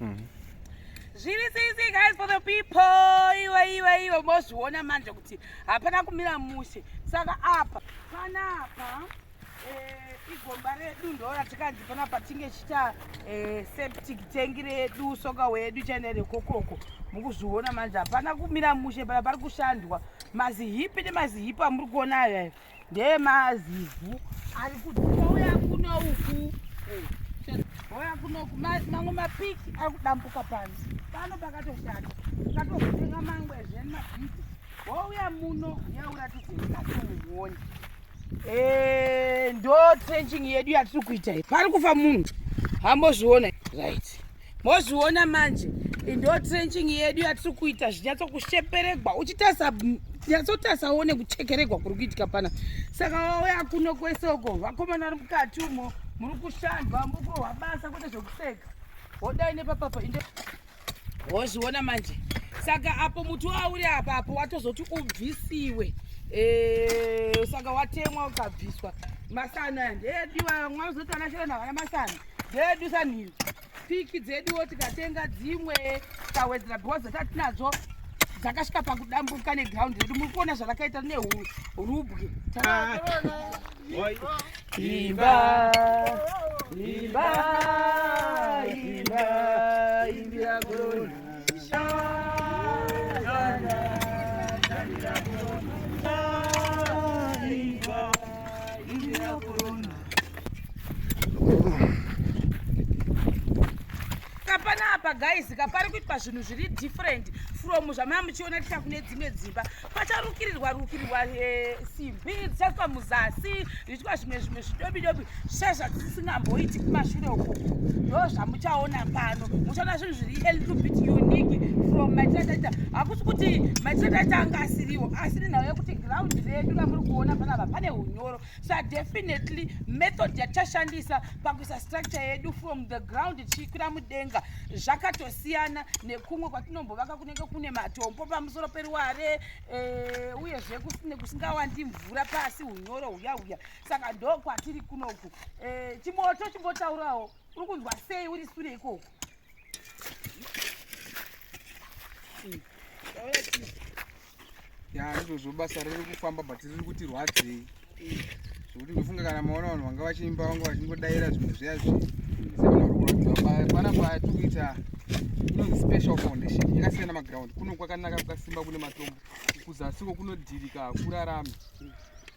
Mm. Zviri sisi guys for the people iwe iwe iwe mozviona manje kuti hapana kumira mushe saka apa panapa eh, igomba redu ndora tikanzi panapa tinge chita eh, septic tank redu soka wedu chene rekokoko mukuzviona manje hapana kumira mushe pana pari kushandwa mazihipi nemazihipi amuri kuona ayo ndeemazivu ari kuti ouya kuno uku ouya kuno uku mamwe mapiki ari kudambuka pano pano pakatoshata ukatovenga mangwe zveni mabhidhi wouya muno yauratidze ikatomuoni eh, ndo trenching yedu yatiri kuita pari kufa munhu hambozviona right mozviona manje ndo trenching yedu yatiri kuita zvinyatsokusheperegwa uchitarisa nyatsotarisa uone kuchekeregwa kuri kuitika pana saka wauya kuno kwese uko vakomana ri mukati umo muri kushandwa muri kurohwa basa kwete zvekuseka wodai nepapapa inde wozviona manje saka apo muti wauri apa apo watozoti ubvisiwe eh, saka watemwa ukabviswa masana ndeediwa mwazotanashira navana masana dzedu sanhiri piki dzeduwo tikatenga dzimwe tikawedzera because dzatinadzo dzakasvika pakudambuka neground redu muri kuona zvarakaita nerubwe imba imba imba imbira korona apa guys ka pari kuitwa zvinhu zviri different from zvamaya muchiona ticha kune dzimwe dzimba pacharukirirwa rukirirwa eh, simbi dzichaiswa muzasi zviitwa zvimwe zvimwe zvidobidobi zvichai zvatisingamboiti kumashure uko ndo zvamuchaona pano muchaona zvinhu zviri a little bit unique from maitataita hakusi kuti maitataita anga asiriwo asiri nhau yekuti ground redu ramuri kuona panapa pane unyoro sa definitely method yatashandisa pakuisa structure yedu from the ground tichikwira mudenga zvakatosiyana nekumwe kwatinombovaka kunenge kune matombo pamusoro peruware e, uyezve kusine kusingawandi mvura pasi unyoro huya huya saka ndo kwatiri kunoku e, chimoto chimbotaurawo uri kunzwa sei uri sure ikoko mm. ya ndizvozvo basa riri kufamba but riri kuti rwadzei zvekuti ndofunga kana maona vanhu vanga vachiimba vanga vachingodaira zvimwe zviya zvinhu zvevanhorwadziwapana patiri kuita inonzi special foundation yakasiyana maground kuno kwakanaka kwakasimba kune matombo kuzasiko kunodhirika hakurarami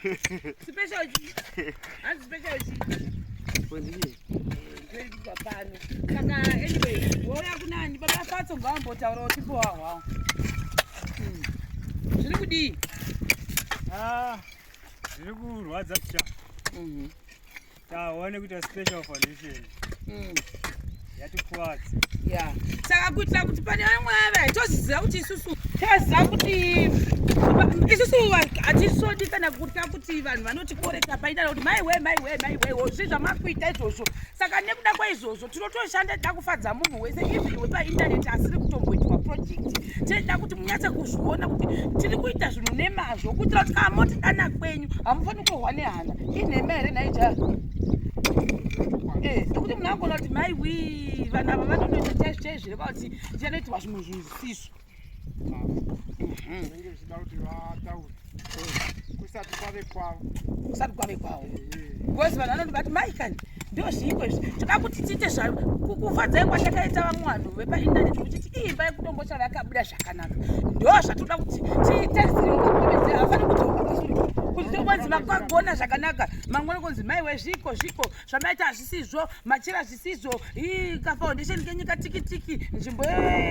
Special G. Hanzi special G. Kondini. Ndiripa pano. Saka anyway, wauya kunani baba Fatso ngaambotaura kuti po hwawo. Hmm. Zviri kudii? Ah. Zviri kurwadza pya. Mhm. taone kuita special foundation mm. yatikwadzi ya saka kuitira kuti pane vamwe vave toziziva kuti isusu taziva kuti isusu hatisodi kana kuta kuti vanhu vanotikoreta paita kuti maiwe maiwe maiwe zvi zvamakuita izvozvo saka nekuda kwaizvozvo tinotoshanda tida kufadza munhu wese even wepaintaneti asiri kutomboitwa project tinoda kuti munyatse kuzviona kuti tiri kuita zvinhu nemazvo kuitira kuti kana moti dana kwenyu hamufaniri kurohwa nehana inhema here naija eh, nekuti munhu angona kuti mai wii vanhu ava vanonoita chaizvo chaizvo here kwakuti tichanoitirwa zvimwe zvinhu zvisizvo zvinenge zvichida kuti vataure kusati kwave kwavo kusati kwave kwavo bcause vanhu vanoti vati mai kani ndo zviiko izvi toda kuti tiite zva kufadzai kwatakaita vamwe vanhu vepaindaneti kuchiti imba yekutombo chava yakabuda zvakanaka ndo zvatoda kuti tiite zirioakomedzi hafani kutoonzi makagona zvakanaka mangwana konzi maiwe zviiko zviiko zvamaita hazvisizvo machira sizvo kafoundation kenyu katikitiki nzvimbo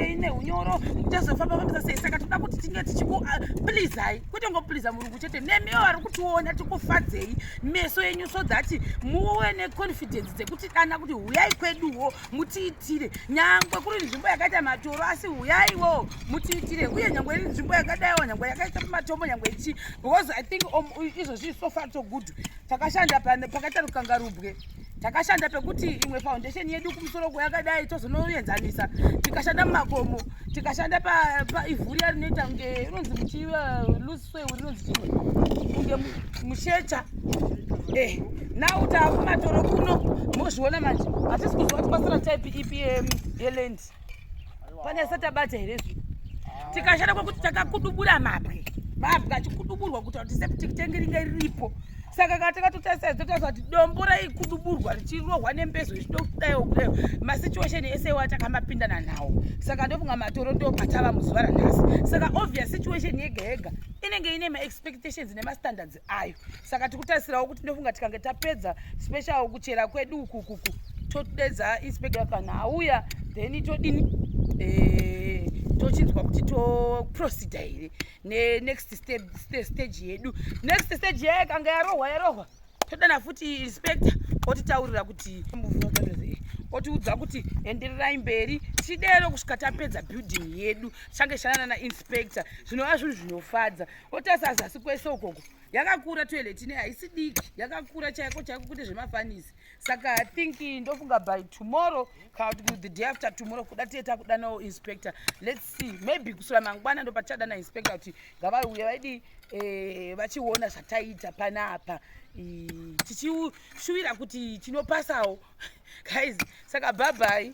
ine unyoro tozofamba fambisa sei saka toda kuti tinge tichikuplizai ah, kwete ngopliza murungu chete nemiwo vari kutiona tikufadzei meso yenyu so that muwe neconfidence dzekuti dana kuti huyai kweduwo mutiitire nyangwe kuri nzvimbo yakaita matoro asi huyaiwo mutiitire uye nyangwe iri nzvimbo yakadaiwo nyangwe yakaita pamatombo nyangwe ichi because i think um, izvozvii so far so good takashanda pakatarukangarubwe takashanda pekuti imwe foundation yedu kumusoro kweyakadai tozonoenzanisa tikashanda mumakomo tikashanda paivhu riya rinoita kunge rinonzi muchiluswe uh, rinonzi chimwe kunge mushecha eh, nau taakumatoro kuno mozviona manje hatisi kuziva kuti kwasara type ipi um, yelendi pane satabata here zvi tikashanda kwekuti takakudubura mabwe mabwe achikuduburwa kuta kuti septic tangi ringe riripo saka ka takatotarisa totarisa kuti dombo raikuduburwa richirohwa nembezo zvichitokudaiwo kudaio masituation ese wa takamapindana nawo saka ndofunga matoro ndo patava muzuva ranhasi saka obvious situation yega yega inenge ine maexpectations nemastandards ayo saka tikutarisirawo kuti ndofunga tikange tapedza special kuchera kwedu ukukuku todedza inspector kana auya then todini eh, tochinzwa kuti toproceda here nenext stage yedu next stage yaye kanga yarohwa yarohwa todana futi inspector otitaurira kuti otiudza kuti endererai mberi tidero kusvika tapedza building yedu change shanana nainspector zvinova zvinhu zvinofadza otarisa zasi kwese ukoko yakakura toilet ine haisi diki yakakura chaiko chaiko kune zvemafanisi saka i think ndofunga by tomorrow kana kuti the day after tomorrow kuda tiye takudanawo inspector let's see maybe kusura mangwana ndopatichadana inspector kuti ngavauye vaidi eh, vachiona zvataita panapa tichishuwira kuti tinopasawo guys saka bhabhai